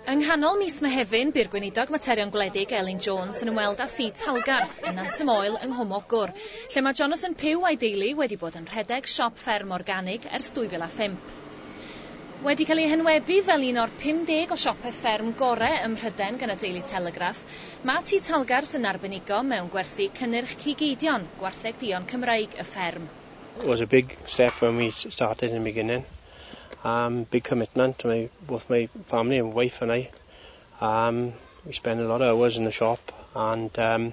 Yng nghanol mis Mehefin, bu'r Gweinidog Materion Gwledig Elin Jones yn ymweld â thi Talgarth yn Nant y Moel yng Nghwm Ogwr, lle mae Jonathan Pugh a'i deulu wedi bod yn rhedeg siop fferm organig ers 2005. Wedi cael ei henwebu fel un o'r 50 o siopau fferm gorau ym Mhrydain gan y Daily Telegraph, mae Tŷ Talgarth yn arbenigo mewn gwerthu cynnyrch cig eidion, gwartheg duon Cymreig y fferm. It was a big step when we started in the beginning, umm big commitment to my both my family and wife and I, umm we spend a lot of hours in the shop and umm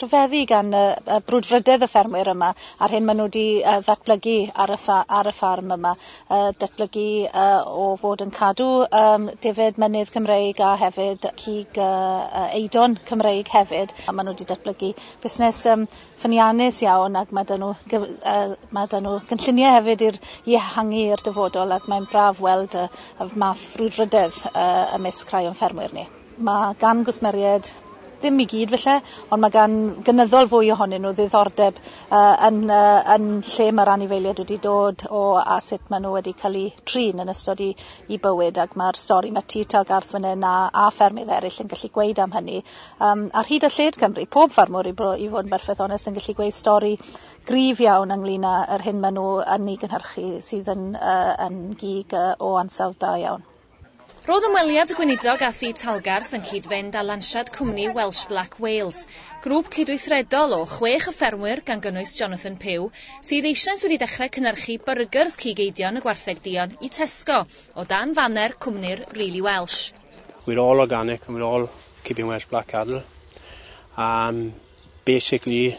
rhyfeddu gan y, y brwdfrydedd y ffermwyr yma a'r hyn maen nhw wedi uh, ddatblygu ar y, ffa, ar y ffarm yma. Uh, datblygu uh, o fod yn cadw um, defyd mynydd Cymreig a hefyd cig uh, eidon Cymreig hefyd. A maen nhw wedi datblygu busnes um, ffyniannus iawn ac mae dyn nhw, uh, mae dyn nhw gynlluniau hefyd i'r i ehangu i'r dyfodol ac mae'n braf weld y, y math frwdfrydedd uh, ymysg rhai o'n ffermwyr ni. Ma' gan gwsmeried, ddim i gyd falle, ond ma' gan gynyddol fwy ohonyn nhw ddiddordeb yy yn yy yn lle ma'r anifeiliaid wedi dod o a sut ma' nw wedi ca'l 'u trin yn ystod 'u 'u bywyd ac ma'r stori ma' Tŷ Tal Garth fan 'yn a a ffermydd eryll yn gallu gweud am hynny yym ar hyd a lled Cymru pob ffarmwr i bo- i fod yn berffeth onest yn gallu gweu' stori gryf iawn ynglŷn â yr hyn ma' nw yn 'i gynhyrchu sydd yn yy yn gig yy o ansawdd da iawn. Roedd ymweliad y Gweinidog â Thŷ Talgarth yn cyd-fynd â lansiad cwmni Welsh Black Wales, grŵp cydweithredol o chwech o ffermwyr gan gynnwys Jonathan Pugh, sydd eisoes wedi dechrau cynhyrchu byrgers cig eidion y gwartheg duon i Tesco, o dan faner cwmni'r Really Welsh. We're all organic and we're all keeping Welsh Black cattle and basically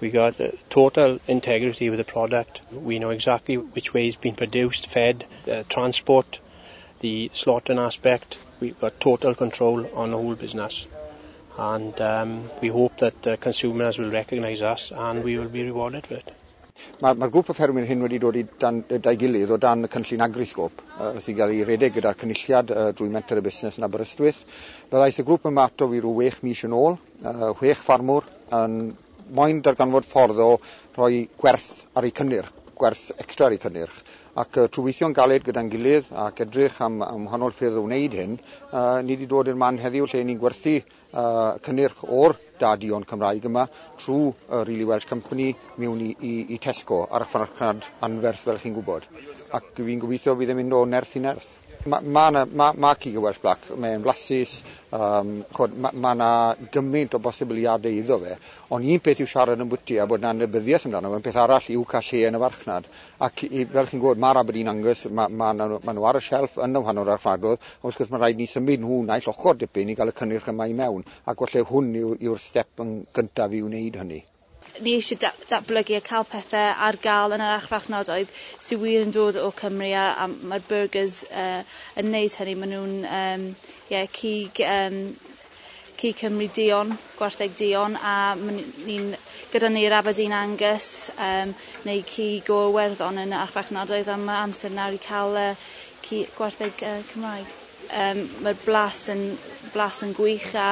We got uh, total integrity with the product. We know exactly which way it's been produced, fed, uh, transport, the slaughtering aspect. We've got total control on the whole business. And um, we hope that uh, consumers will recognise us and we will be rewarded for it. Mae'r ma grŵp o ffermwyr hyn wedi dod i dan, da'i gilydd o dan y cynllun agrisgop uh, sy'n cael ei redeg gyda'r cynulliad uh, drwy Menter y Busnes yn Aberystwyth. Fe ddaeth y grŵp yma ato fi rhyw wech mis yn ôl Mae chwech ffarmwr yn moyn darganfod ffordd o roi gwerth ar eu cynnyrch, gwerth extra ar eu cynnyrch. Ac trwy weithio'n galed gyda'n gilydd ac edrych am, am wahanol ffyrdd o wneud hyn, uh, ni wedi dod i'r man heddiw lle ni'n gwerthu uh, cynnyrch o'r da dion Cymraeg yma trwy uh, Really Welsh Company mewn i, i, i Tesco ar y farchnad anferth fel chi'n gwybod. Ac fi'n gobeithio bydd yn mynd o nerth i nerth. Mae 'na marc i Welsh Black, mae'n flasus, mae 'na gymaint o bosibiliadau iddo fe, ond un peth yw siarad ambwti a bod 'na anybyddiaeth amdano fe, peth arall yw cael lle yn y farchnad. Ac fel chi'n gwybod, mae'r Aberdeen Angus, mae 'na, maen nhw ar y shelf yn y wahanol archfarchnadoedd, ond wrth gwrs mae'n rhaid i ni symud nhw naill ochr dipyn i gael y cynnyrch yma i mewn, ac falle hwn yw'r step yn gyntaf i wneud hynny. Ni eisiau da- datblygu a cael pethe ar gael yn yr archfarchnadoedd sy wir yn dod o Cymru a a mae'r byrgyrs yy yn neud hynny ma' nhw'n yym ie cig yym cig Cymru duon, gwartheg duon a ma' ni ni'n gyda ni'r Aberdeen Angus yym neu cig o Iwerddon yn y archfarchnadoedd a ma' amser nawr i ca'l yy ci- gwartheg yy Cymraeg. Yym ma'r blas yn blas yn gwych a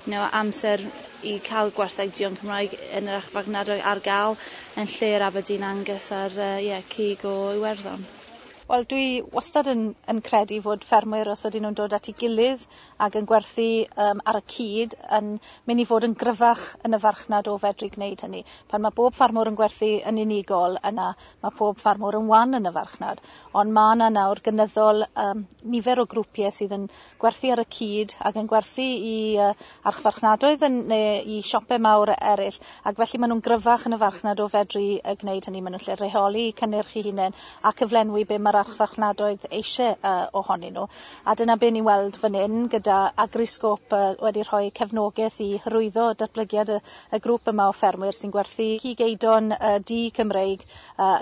you know amser i ca'l gwartheg duon Cymraeg yn yr archfarchnadoedd ar ga'l yn lle yr Aberdeen Angus a'r yy ie cig o Iwerddon. Wel dwi wastad yn yn credu fod ffermwyr os ydyn nhw'n dod at ei gilydd ag yn gwerthu yym ar y cyd yn myn' i fod yn gryfach yn y farchnad o fedru gneud hynny. Pan ma' bob ffarmwr yn gwerthu yn unigol yna Mae pob ffarmwr yn wan yn y farchnad, ond mae yna nawr gynyddol um, nifer o grwpiau sydd yn gwerthu ar y cyd ac yn gwerthu i uh, archfarchnadoedd yn, neu i siopau mawr eraill, ac felly maen nhw'n gryfach yn y farchnad o fedru uh, gwneud hynny. Maen nhw'n lle rheoli cynnyrch i hunain a cyflenwi be mae'r archfarchnadoedd eisiau uh, ohonyn nhw. A dyna be ni'n weld fan hyn gyda Agriscope uh, wedi rhoi cefnogaeth i hyrwyddo datblygiad y y grŵp yma o ffermwyr sy'n gwerthu cig eidon du Cymreig,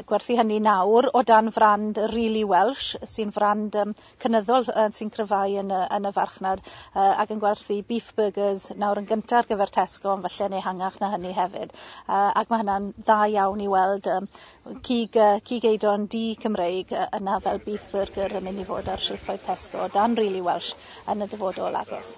gwerthu hynny nawr o dan frand Really Welsh, sy'n frand um, cynyddol uh, sy'n cryfhau yn y, yn y farchnad, uh, ac yn gwerthu beef burgers nawr yn gyntaf ar gyfer Tesco, ond falle yn ehangach na hynny hefyd. Uh, ac mae hynna'n dda iawn i weld um, cig, uh, cig eidon du Cymreig uh, yna fel beef burger yn mynd i fod ar silffoedd Tesco dan Really Welsh yn y dyfodol agos.